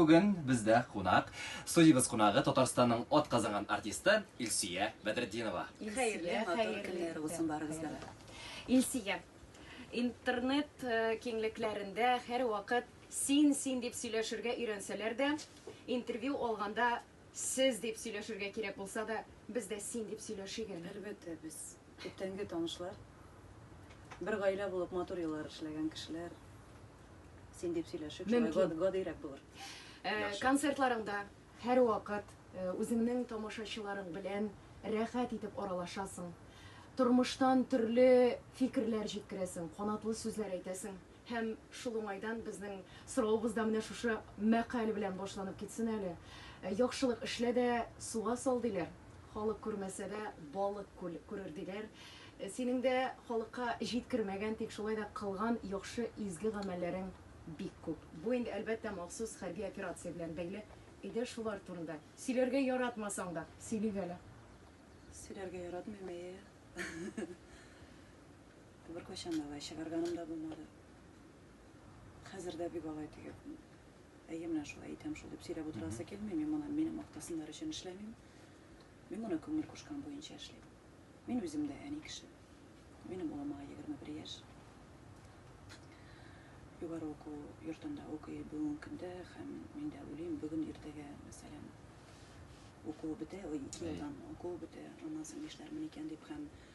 Бүген бездә кунак, студиябез кунагы, Татарстанның атказанган артисты Илсөя Бәдретдинова. Хәерле, матур көннәр булсын барыгызга да. Илсөя, интернет киңлекләрендә һәрвакыт син, син дип сөйләшергә өйрәнсәләр дә, интервью алганда Сез дип сөйләшергә кирәк булса да, без дә син дип сөйләшик әле. Әлбәттә, без күптәнге танышлар. Бер гаилә булып матур еллар эшләгән кешеләр. Син дип сөйләшик, шулай Мөмкин. гад- гадыйрәк булыр. Э, Яхшы. Концертларыңда һәрвакыт э, үзеңнең тамашачыларың белән рәхәт итеп аралашасың. Тормыштан төрле фикерләр җиткерәсең, канатлы сүзләр әйтәсең. Һәм шул уңайдан безнең соравыбыз да менә шушы мәкаль белән башланып китсен әле. Яхшылык эшлә дә, суга сал, диләр. Халык күрмәсә дә, балык күл күрер, диләр. Синең дә халыкка җиткермәгән, тик шулай да кылган яхшы, изге гамәлләрең бик күп. Бу инде, әлбәттә, махсус хәрби операция белән бәйле иде, шулар турында. Сөйләргә яратмасаң да, сөйлик әле. Сөйләргә яратмыйм, әйе. Беркайчан да алай чыгарганым да булмады. Хәзер дә бик алай диеп, әйе, менә шулай итәм шул дип сөйләп утырасы килми. Мин моны мине мактасыннар өчен эшләмим. Мин моны күңел кушкан буенча эшлим. Мин үзем дә әни кеше. Минем улым аңа 21 яшь. Югары уку йортында укый бүгенге көндә һәм мин дә уйлыйм, бүген иртәгә, мәсәлән, укуы бетә, ой, ике елдан укуы бетә, аннан соң нишләрмен икән дип һәм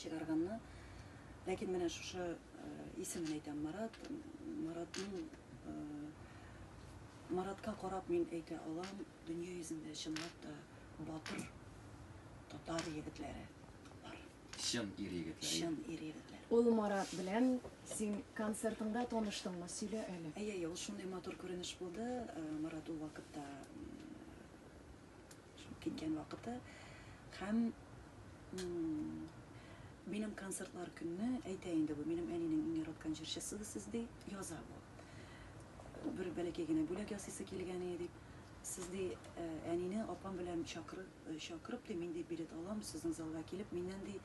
чыгарганны. Ләкин менә шушы исемен әйтәм, Марат. Маратның Маратка карап мин әйтә алам, дөнья йөзендә чынлап та батыр татар егетләре бар. Чын ир егетләре. Чын ир егетләре. Ул Марат белән син концертыңда таныштыңмы? Сөйлә әле. Әйе, ул шундый матур күренеш булды. Марат ул вакытта Шул киткән вакыты һәм минем концертлар көнне әйтә инде бу минем әнинең иң яраткан җырчысы сез ди яза бу бер бәләкәй генә бүләк ясыйсы килгән иде дип сез ди э, әнине апам белән чакырып э, чакырып ди мин ди билет алам сезнең залга килеп миннән ди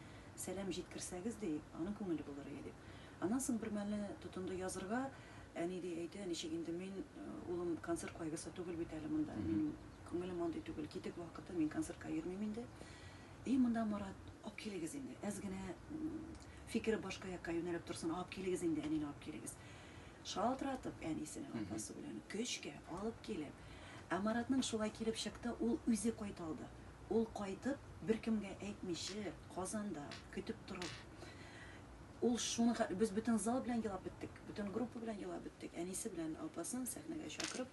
сәлам җиткерсәгез ди аның күңеле булыр иде дип аннан соң бер мәлне тотынды язырга әни ди әйтә ничек инде мин э, улым концерт кайгысы түгел бит әле монда минем Күңелем андый түгел, китек вакыты, мин концертка йөрмим инде. И, монда Марат, алып килегез инде. Әз генә фикере башка якка юнәлеп торсын, алып килегез инде, әнине алып килегез. Шалтыратып әнисенең апасы белән көчкә алып килеп. Ә Маратның шулай килеп чыкты, ул үзе кайта алды. Ул кайтып, беркемгә әйтмичә, Казанда көтеп торып. Ул шуны без бөтен зал белән елап беттек, бөтен группа белән елап беттек. Әнисе белән апасын сәхнәгә чакырып,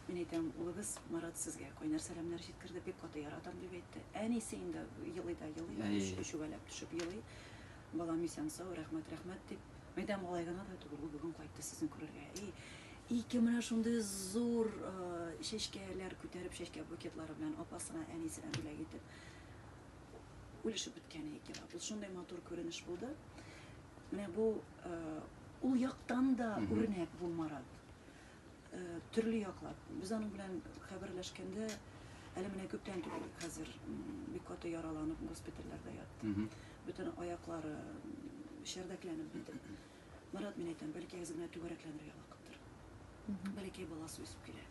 Мин әйтәм, улыгыз Марат сезгә кайнар сәламнәр җиткерде, бик каты яратам дип әйтте. Әнисе инде елый да елый, өшүгәләп төшеп елый. Балам исән сау, рәхмәт, рәхмәт дип. Мин әйтәм, алай гына да түгел, ул бүген кайтты сезне күрергә. И, ике менә шундый зур чәчкәләр күтәреп, чәчкә букетлары белән апасына, әнисенә бүләк итеп үлешеп беткәне икән. Ул шундый матур күренеш булды. Менә бу ул яктан да үрнәк бу Марат. Төрле яклап. Без аның белән хәбәрләшкәндә, әле менә күптән түгел, хәзер бик каты яраланып госпитальләрдә ятты. Бөтен аяклары шәрдәкләнеп бетеп. Марат, мин әйтәм, бәлки әз генә түгәрәкләнергә вакыттыр. Бәләкәй баласы үсеп килә.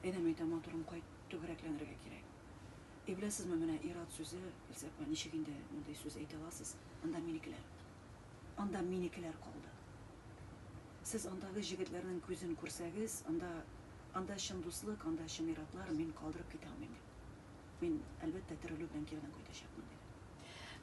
Әйдәм әйтә, матурым, кайт, түгәрәкләнергә кирәк. И беләсезме, менә ир-ат сүзе, Илсә апа, ничек инде мондый сүз әйтә аласыз, анда минекеләр. Анда минекеләр калды. Сез андагы җегетләрнең күзен күрсәгез, анда, анда чын дуслык, анда чын ир-атлар, мин калдырып китә алмыйм, дип. Мин, әлбәттә, терелү белән кире дә кайтачакмын, диде.